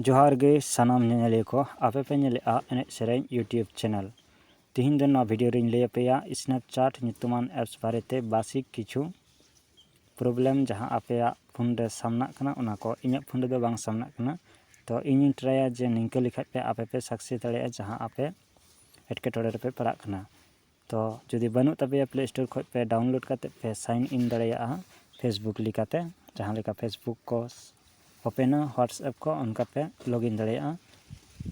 ᱡᱚᱦᱟᱨ ᱜᱮ ᱥᱟᱱᱟᱢ ᱧᱮᱧᱮᱞᱤᱭᱟᱹ ᱠᱚ ᱟᱯᱮ ᱯᱮ ᱧᱮᱞᱮᱫᱼᱟ ᱮᱱᱮᱡ ᱥᱮᱨᱮᱧ ᱤᱭᱩᱴᱩᱵᱽ ᱪᱮᱱᱮᱞ ᱛᱮᱦᱮᱧ ᱫᱚ ᱱᱚᱣᱟ ᱵᱷᱤᱰᱤᱭᱳ ᱨᱮᱧ ᱞᱟᱹᱭ ᱟᱯᱮᱭᱟ ᱥᱱᱮᱯᱪᱟᱴ ᱧᱩᱛᱩᱢᱟᱱ ᱮᱯᱥ ᱵᱟᱨᱮᱛᱮ ᱵᱟᱥᱤᱠ ᱠᱤᱪᱷᱩ ᱯᱨᱚᱵᱞᱮᱢ ᱡᱟᱦᱟᱸ ᱟᱯᱮᱭᱟᱜ ᱯᱷᱳᱱ ᱨᱮ ᱥᱟᱢᱱᱟᱜ ᱠᱟᱱᱟ ᱚᱱᱟ ᱠᱚ ᱤᱧᱟᱹᱜ ᱯᱷᱳᱱ ᱨᱮᱫᱚ ᱵᱟᱝ ᱥᱟᱢᱱᱟᱜ ᱠᱟᱱᱟ ᱛᱚ ᱤᱧᱤᱧ ᱴᱨᱟᱭᱟ ᱡᱮ ᱱᱤᱝᱠᱟᱹ ᱞᱮᱠᱷᱟᱱ ᱯᱮ ᱟᱯᱮ ᱯᱮ ᱥᱟᱠᱥᱮᱥ ᱫᱟᱲᱮᱭᱟᱜᱼᱟ ᱡᱟᱦᱟᱸ ᱟᱯᱮ ᱮᱴᱠᱮᱴᱚᱬᱮ ᱨᱮᱯᱮ ᱯᱟᱲᱟᱜ ᱠᱟᱱᱟ ᱛᱚ ᱡᱩᱫᱤ ᱵᱟᱹᱱᱩᱜ ᱛᱟᱯᱮᱭᱟ ᱯᱞᱮ ᱥᱴᱳᱨ ᱠᱷᱚᱱ ᱯᱮ ᱰᱟᱣᱩᱱᱞᱳᱰ ᱠᱟᱛᱮᱫ ᱯᱮ ᱥᱟᱭᱤᱱ ᱤᱱ ᱫᱟᱲᱮᱭᱟᱜᱼᱟ ᱯᱷᱮᱥᱵᱩᱠ ᱞᱮᱠᱟᱛᱮ ᱡᱟᱦᱟᱸ ᱞᱮᱠᱟ ᱯᱷᱮᱥᱵᱩᱠ ᱠᱚ ᱳᱯᱮᱱᱟ ᱦᱳᱣᱟᱴᱥᱮᱯ ᱠᱚ ᱚᱱᱠᱟ ᱯᱮ ᱞᱚᱜᱽ ᱤᱱ ᱫᱟᱲᱮᱭᱟᱜᱼᱟ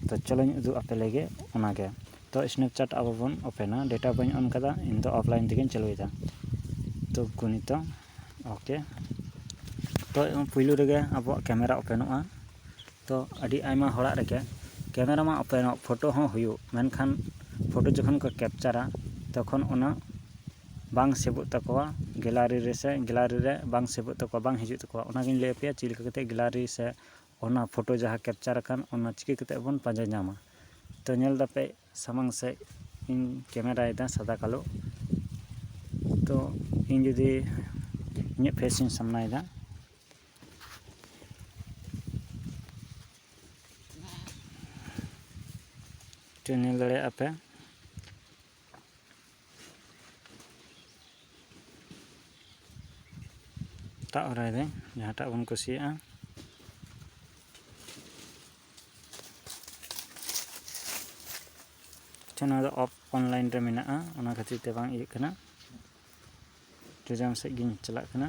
ᱛᱚ ᱪᱚᱞᱚᱧ ᱩᱫᱩᱜ ᱟᱯᱮ ᱞᱮᱜᱮ ᱚᱱᱟᱜᱮ ᱛᱚ ᱥᱱᱮᱯᱪᱮᱴ ᱟᱵᱚ ᱵᱚᱱ ᱳᱯᱮᱱᱟ ᱰᱮᱴᱟ ᱵᱟᱹᱧ ᱚᱱ ᱠᱟᱫᱟ ᱤᱧᱫᱚ ᱚᱯᱷᱞᱟᱭᱤᱱ ᱛᱮᱜᱮᱧ ᱪᱟᱹᱞᱩᱭᱮᱫᱟ ᱛᱚ ᱜᱚᱱᱤᱛᱟ ᱳᱠᱮ ᱛᱚ ᱯᱩᱭᱞᱩ ᱨᱮᱜᱮ ᱟᱵᱚᱣᱟᱜ ᱠᱮᱢᱮᱨᱟ ᱳᱯᱮᱱᱚᱜᱼᱟ ᱛᱚ ᱟᱹᱰᱤ ᱟᱭᱢᱟ ᱦᱚᱲᱟᱜ ᱨᱮᱜᱮ ᱠᱮᱢᱮᱨᱟ ᱢᱟ ᱳᱯᱮᱱᱚᱜ ᱯᱷᱳᱴᱳ ᱦᱚᱸ ᱦᱩᱭᱩᱜ ᱢᱮᱱᱠᱷᱟᱱ ᱯᱷᱳᱴᱳ ᱡᱚᱠᱷᱚᱱ ᱠᱚ ᱠᱮᱯᱪᱟᱨᱟ ᱛᱚᱠᱷᱚᱱ ᱚᱱᱟ ᱵᱟᱝ ᱥᱮᱵᱷᱚᱜ ᱛᱟᱠᱚᱣᱟ ᱜᱮᱞᱟᱨᱤ ᱨᱮᱥᱮ ᱜᱮᱞᱟᱨᱤ ᱨᱮ ᱵᱟᱝ ᱥᱮᱵᱷᱚᱜ ᱛᱟᱠᱚᱣᱟ ᱵᱟᱝ ᱦᱤᱡᱩᱜ ᱛᱟᱠᱚᱣᱟ ᱚᱱᱟᱜᱤᱧ ᱞᱟᱹᱭ ᱟᱯᱮᱭᱟ ᱪᱮᱫ ᱞᱮᱠᱟ ᱠᱟᱛᱮᱫ ᱜᱮᱞᱟᱨᱤ ᱥᱮ ᱚᱱᱟ ᱯᱷᱳᱴᱳ ᱡᱟᱦᱟᱸ ᱠᱮᱯᱪᱟᱨ ᱟᱠᱟᱱ ᱚᱱᱟ ᱪᱤᱠᱟᱹ ᱠᱟᱛᱮᱫ ᱵᱚᱱ ᱯᱟᱸᱡᱟ ᱧᱟᱢᱟ ᱛᱚ ᱧᱮᱞ ᱫᱟᱯᱮ ᱥᱟᱢᱟᱝ ᱥᱮᱫ ᱤᱧ ᱠᱮᱢᱮᱨᱟᱭᱮᱫᱟ ᱥᱟᱫᱟ ᱠᱟᱞᱳ ᱛᱚ ᱤᱧ ᱡᱩᱫᱤ ᱤᱧᱟᱹᱜ ᱯᱷᱮᱥ ᱤᱧ ᱥᱟᱢᱱᱟᱭᱮᱫᱟ ᱛᱚ ᱧᱮᱞ ᱫᱟᱲᱮᱭᱟᱜᱼᱟ ᱯᱮ ᱛᱟᱜ ᱦᱚᱨᱟᱭᱮᱫᱟᱹᱧ ᱡᱟᱦᱟᱸᱴᱟᱜ ᱵᱚᱱ ᱠᱩᱥᱤᱭᱟᱜᱼᱟ ᱟᱪᱪᱷᱟ ᱱᱚᱣᱟ ᱫᱚ ᱚᱯᱷ ᱚᱱᱞᱟᱭᱤᱱ ᱨᱮ ᱢᱮᱱᱟᱜᱼᱟ ᱚᱱᱟ ᱠᱷᱟᱹᱛᱤᱨ ᱛᱮ ᱵᱟᱝ ᱤᱭᱟᱹᱜ ᱠᱟᱱᱟ ᱴᱨᱮᱡᱟᱢ ᱥᱮᱫ ᱜᱤᱧ ᱪᱟᱞᱟᱜ ᱠᱟᱱᱟ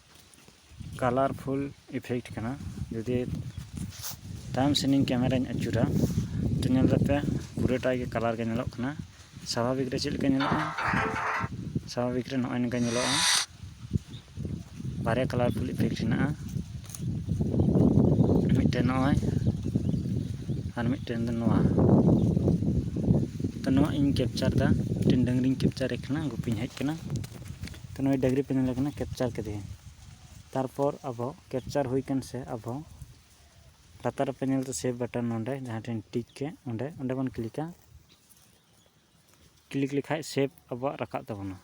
ᱠᱟᱞᱟᱨᱯᱷᱩᱞ ᱤᱯᱷᱮᱠᱴ ᱠᱟᱱᱟ ᱡᱩᱫᱤ ᱛᱟᱭᱚᱢ ᱥᱮᱱᱤᱧ ᱠᱮᱢᱮᱨᱟᱧ ᱟᱹᱪᱩᱨᱟ ᱛᱚ ᱧᱮᱞ ᱞᱮᱯᱮ ᱯᱩᱨᱟᱹᱴᱟ ᱜᱮ ᱠᱟᱞᱟᱨ ᱜᱮ ᱧᱮᱞᱚᱜ ᱠᱟᱱᱟ ᱥᱟᱵᱷᱟᱵᱤᱠ ᱨᱮ ᱪᱮᱫ ᱞᱮᱠᱟ ᱧᱮᱞᱚᱜᱼᱟ ᱥᱟᱵᱷᱟᱵᱤᱠ ᱨᱮ ᱱᱚᱜᱼᱚᱭ ᱱᱚᱝᱠᱟ ᱧᱮᱞᱚᱜᱼᱟ ᱵᱟᱨᱭᱟ ᱠᱟᱞᱟᱨᱯᱷᱩᱞ ᱤᱯᱷᱮᱠᱴ ᱦᱮᱱᱟᱜᱼᱟ ᱢᱤᱫᱴᱮᱱ ᱱᱚᱜᱼᱚᱭ ᱟᱨ ᱢᱤᱫᱴᱮᱱ ᱫᱚ ᱱᱚᱣᱟ ᱛᱚ ᱱᱚᱣᱟ ᱤᱧ ᱠᱮᱯᱪᱟᱨ ᱮᱫᱟ ᱢᱤᱫᱴᱮᱱ ᱰᱟᱹᱝᱨᱤᱧ ᱠᱮᱯᱪᱟᱨᱮ ᱠᱟᱱᱟ ᱜᱩᱯᱤᱧ ᱦᱮᱡ ᱟᱠᱟᱱᱟ ᱛᱚ ᱱᱩᱭ ᱰᱟᱹᱝᱨᱤ ᱯᱮ ᱧᱮᱞᱮ ᱠᱟᱱᱟ ᱠᱮᱯᱪᱟᱨ ᱠᱮᱫᱮᱭᱟ ᱛᱟᱨᱯᱚᱨ ᱟᱵᱚ ᱠᱮᱯᱪᱟᱨ ᱦᱩᱭ ᱠᱟᱱ ᱥᱮ ᱟᱵᱚ ᱞᱟᱛᱟᱨ ᱨᱮᱯᱮ ᱧᱮᱞ ᱫᱟ ᱥᱮᱵᱷ ᱵᱟᱴᱚᱱ ᱱᱚᱰᱮ ᱡᱟᱦᱟᱸ ᱴᱷᱮᱱ ᱴᱤᱠ ᱠᱮ ᱚᱸᱰᱮ ᱚᱸᱰᱮ ᱵᱚᱱ ᱠᱞᱤᱠᱟ ᱠᱞᱤᱠ ᱞᱮᱠᱷᱟᱡ ᱥᱮᱵᱷ ᱟᱵᱚᱣᱟᱜ ᱨᱟᱠᱟᱵ ᱛᱟᱵᱚᱱᱟ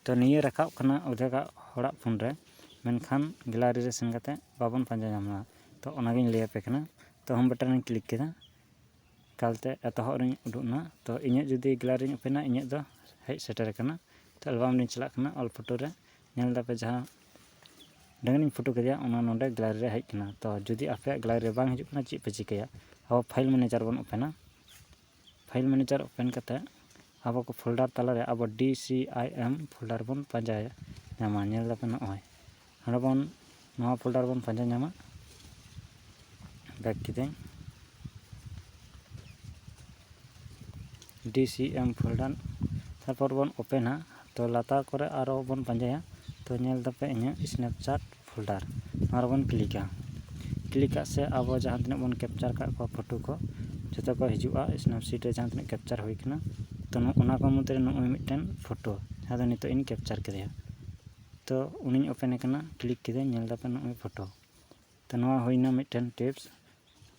ᱛᱚ ᱱᱤᱭᱟᱹ ᱨᱟᱠᱟᱵ ᱠᱟᱱᱟ ᱚᱫᱷᱮᱠᱟᱜ ᱦᱚᱲᱟᱜ ᱯᱷᱳᱱ ᱨᱮ ᱢᱮᱱᱠᱷᱟᱱ ᱜᱮᱞᱟᱨᱤ ᱨᱮ ᱥᱮᱱ ᱠᱟᱛᱮ ᱵᱟᱵᱚᱱ ᱯᱟᱸᱡᱟ ᱧᱟᱢ ᱫᱟ ᱛᱚ ᱚᱱᱟᱜᱤᱧ ᱞᱟᱹᱭᱟᱯᱮ ᱠᱟᱱᱟ ᱛᱚ ᱦᱳᱢ ᱵᱟᱴᱚᱱ ᱨᱤᱧ ᱠᱞᱤᱠ ᱠᱮᱫᱟ ᱮᱠᱟᱞᱛᱮ ᱮᱛᱚᱦᱚᱵ ᱨᱮᱧ ᱩᱰᱩᱠ ᱮᱱᱟ ᱛᱚ ᱤᱧᱟᱹᱜ ᱡᱩᱫᱤ ᱜᱮᱞᱟᱨᱤᱧ ᱳᱯᱮᱱᱟ ᱤᱧᱟᱹᱜ ᱫᱚ ᱦᱮᱡ ᱥᱮᱴᱮᱨ ᱟᱠᱟᱱᱟ ᱛᱚ ᱮᱞᱵᱟᱢ ᱨᱤᱧ ᱪᱟᱞᱟᱜ ᱠᱟᱱᱟ ᱚᱞ ᱯᱷᱳᱴᱳ ᱨᱮ ᱧᱮᱞ ᱫᱟᱯᱮ ᱡᱟᱦᱟᱸ ᱰᱟᱹᱝᱨᱤᱧ ᱯᱷᱳᱴᱳ ᱠᱮᱫᱮᱭᱟ ᱚᱱᱟ ᱱᱚᱰᱮ ᱜᱮᱞᱟᱨᱤ ᱨᱮ ᱦᱮᱡ ᱟᱠᱟᱱᱟ ᱛᱚ ᱡᱩᱫᱤ ᱟᱯᱮᱭᱟᱜ ᱜᱮᱞᱟᱨᱤ ᱨᱮ ᱵᱟᱝ ᱦᱤᱡᱩᱜ ᱠᱟᱱᱟ ᱪᱮᱫ ᱯᱮ ᱪᱤᱠᱟᱹᱭᱟ ᱟᱵᱚ ᱯᱷᱟᱭᱤᱞ ᱢᱮᱱᱮᱡᱟᱨ ᱵᱚᱱ ᱳᱯᱮᱱᱟ ᱯᱷᱟᱭᱤᱞ ᱢᱮᱱᱮᱡᱟᱨ ᱳᱯᱮᱱ ᱠᱟᱛᱮᱫ ᱟᱵᱚ ᱠᱚ ᱯᱷᱳᱞᱰᱟᱨ ᱛᱟᱞᱟᱨᱮ ᱟᱵᱚ ᱰᱤ ᱥᱤ ᱟᱭ ᱮᱢ ᱯᱷᱳᱞᱰᱟᱨ ᱵᱚᱱ ᱯᱟᱸᱡᱟ ᱧᱟᱢᱟ ᱧᱮᱞ ᱫᱟᱯᱮ ᱱᱚᱜᱼᱚᱭ ᱱᱚᱰᱮ ᱵᱚᱱ ᱱᱚᱣᱟ ᱯᱷᱳᱞᱰᱟᱨ ᱵᱚᱱ ᱯᱟᱸᱡᱟ ᱧᱟᱢᱟ ᱵᱮᱠ ᱠᱤᱫᱟᱹᱧ ᱰᱤ ᱥᱤ ᱮᱢ ᱯᱷᱳᱞᱰᱟᱨ ᱛᱟᱨᱯᱚᱨ ᱵᱚᱱ ᱳᱯᱮᱱᱟ ᱛᱚ ᱞᱟᱛᱟᱨ ᱠᱚᱨᱮ ᱟᱨᱚ ᱵᱚᱱ ᱯᱟᱸᱡᱟᱭᱟ ᱛᱚ ᱧᱮᱞ ᱫᱟᱯᱮ ᱤᱧᱟᱹᱜ ᱥᱱᱮᱯᱪᱟᱴ ᱯᱷᱳᱞᱰᱟᱨ ᱱᱚᱣᱟ ᱨᱮᱵᱚᱱ ᱠᱞᱤᱠᱟ ᱠᱞᱤᱠ ᱟᱜ ᱥᱮ ᱟᱵᱚ ᱡᱟᱦᱟᱸ ᱛᱤᱱᱟᱹᱜ ᱵᱚᱱ ᱠᱮᱯᱪᱟᱨ ᱟᱠᱟᱫ ᱠᱚᱣᱟ ᱯᱷᱳᱴᱳ ᱠᱚ ᱡᱚᱛᱚ ᱠᱚ ᱦᱤᱡᱩᱜᱼᱟ ᱥᱱᱮᱯᱥᱤᱴ ᱨᱮ ᱡᱟᱦᱟᱸ ᱛᱤᱱᱟᱹᱜ ᱠᱮᱯᱪᱟᱨ ᱦᱩᱭ ᱠᱟᱱᱟ ᱛᱳ ᱚᱱᱟ ᱠᱚ ᱢᱩᱫᱽᱨᱮ ᱱᱚᱜᱼᱚᱭ ᱢᱤᱫᱴᱮᱱ ᱯᱷᱳᱴᱳ ᱡᱟᱦᱟᱸ ᱫᱚ ᱱᱤᱛᱚᱜ ᱤᱧ ᱠᱮᱯᱪᱟᱨ ᱠᱮᱫᱮᱭᱟ ᱛᱳ ᱩᱱᱤᱧ ᱳᱯᱮᱱᱮ ᱠᱟᱱᱟ ᱠᱞᱤᱠ ᱠᱮᱫᱟᱹᱧ ᱧᱮᱞ ᱫᱟᱯᱮ ᱱᱚᱜᱼᱚᱭ ᱯᱷᱳᱴᱳ ᱛᱳ ᱱᱚᱣᱟ ᱦᱩᱭᱱᱟ ᱢᱤᱫᱴᱮᱱ ᱴᱤᱯᱥ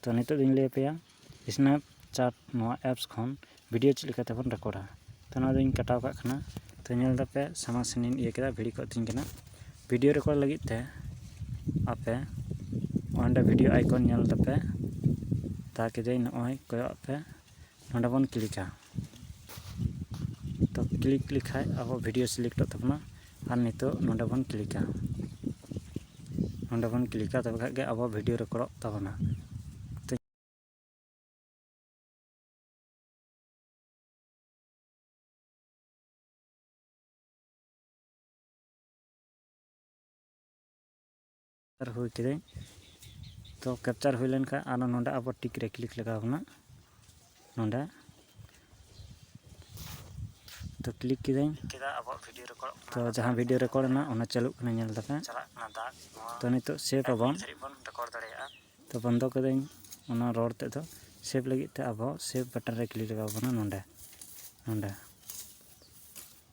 ᱛᱚ ᱱᱤᱛᱚᱜ ᱫᱚᱧ ᱞᱟᱹᱭ ᱟᱯᱮᱭᱟ ᱥᱱᱮᱯ ᱪᱟᱴ ᱱᱚᱣᱟ ᱮᱯᱥ ᱠᱷᱚᱱ ᱵᱷᱤᱰᱭᱳ ᱪᱮᱫ ᱞᱮᱠᱟ ᱛᱮᱵᱚᱱ ᱨᱮᱠᱳᱰᱟ ᱛᱚ ᱱᱚᱣᱟ ᱫᱚᱧ ᱠᱟᱴᱟᱣ ᱠᱟᱜ ᱠᱟᱱᱟ ᱛᱚ ᱧᱮᱞ ᱫᱟᱯᱮ ᱥᱟᱢᱟᱝ ᱥᱮᱱᱤᱧ ᱤᱭᱟᱹ ᱠᱮᱫᱟ ᱵᱷᱤᱲ ᱠᱚᱜ ᱛᱤᱧ ᱠᱟᱱᱟ ᱵᱷᱤᱰᱭᱳ ᱨᱮᱠᱳᱰ ᱞᱟᱹᱜᱤᱫ ᱛᱮ ᱟᱯᱮ ᱚᱸᱰᱮ ᱵᱷᱤᱰᱭᱳ ᱟᱭᱠᱚᱱ ᱧᱮᱞ ᱫᱟᱯᱮ ᱛᱟ ᱠᱮᱫᱟᱹᱧ ᱱᱚᱜᱼᱚᱭ ᱠᱚᱭᱚᱜ ᱯᱮ ᱱᱚᱰᱮ ᱵᱚᱱ ᱠᱞᱤᱠᱟ ᱛᱚ ᱠᱞᱤᱠ ᱞᱮᱠᱷᱟᱡ ᱟᱵᱚ ᱵᱷᱤᱰᱤᱭᱳ ᱥᱤᱞᱮᱠᱴᱚᱜ ᱛᱟᱵᱚᱱᱟ ᱟᱨ ᱱᱤᱛᱚᱜ ᱱᱚᱰᱮ ᱵᱚᱱ ᱠᱞᱤᱠᱟ ᱱᱚᱰᱮ ᱵᱚᱱ ᱠᱞᱤᱠᱟ ᱛᱚᱵᱮ ᱠᱷᱟᱡ ᱜᱮ ᱟᱵᱚ ᱵᱷᱤᱰᱤᱭᱳ ᱨᱮᱠᱚᱨᱰᱚᱜ ᱛᱟᱵᱚᱱᱟ ᱠᱮᱯᱪᱟᱨ ᱦᱩᱭ ᱠᱤᱫᱟᱹᱧ ᱛᱚ ᱠᱮᱯᱪᱟᱨ ᱦᱩᱭ ᱞᱮᱱᱠᱷᱟᱱ ᱟᱨᱚ ᱱᱚᱰᱮ ᱟᱵᱚ ᱴᱤᱠ ᱨᱮ ᱠᱞᱤᱠ ᱞᱟᱜᱟᱣ ᱵᱚᱱᱟ ᱱᱚᱰᱮ ᱛᱚ ᱠᱞᱤᱠ ᱠᱤᱫᱟᱹᱧ ᱛᱚ ᱡᱟᱦᱟᱸ ᱵᱷᱤᱰᱤᱭᱳ ᱨᱮᱠᱚᱨᱰ ᱮᱱᱟ ᱚᱱᱟ ᱪᱟᱹᱞᱩᱜ ᱠᱟᱱᱟ ᱧᱮᱞ ᱫᱟᱯᱮ ᱛᱚ ᱱᱤᱛᱚᱜ ᱥᱮᱵᱷ ᱟᱵᱚᱱ ᱛᱚ ᱵᱚᱱᱫᱚ ᱠᱤᱫᱟᱹᱧ ᱚᱱᱟ ᱨᱚᱲ ᱛᱮᱫ ᱫᱚ ᱥᱮᱵᱷ ᱞᱟᱹᱜᱤᱫ ᱛᱮ ᱟᱵᱚ ᱥᱮᱵᱷ ᱵᱟᱴᱚᱱ ᱨᱮ ᱠᱞᱤᱠ ᱞᱟᱜᱟᱣ ᱵᱚᱱᱟ ᱱᱚᱰᱮ ᱱᱚᱰᱮ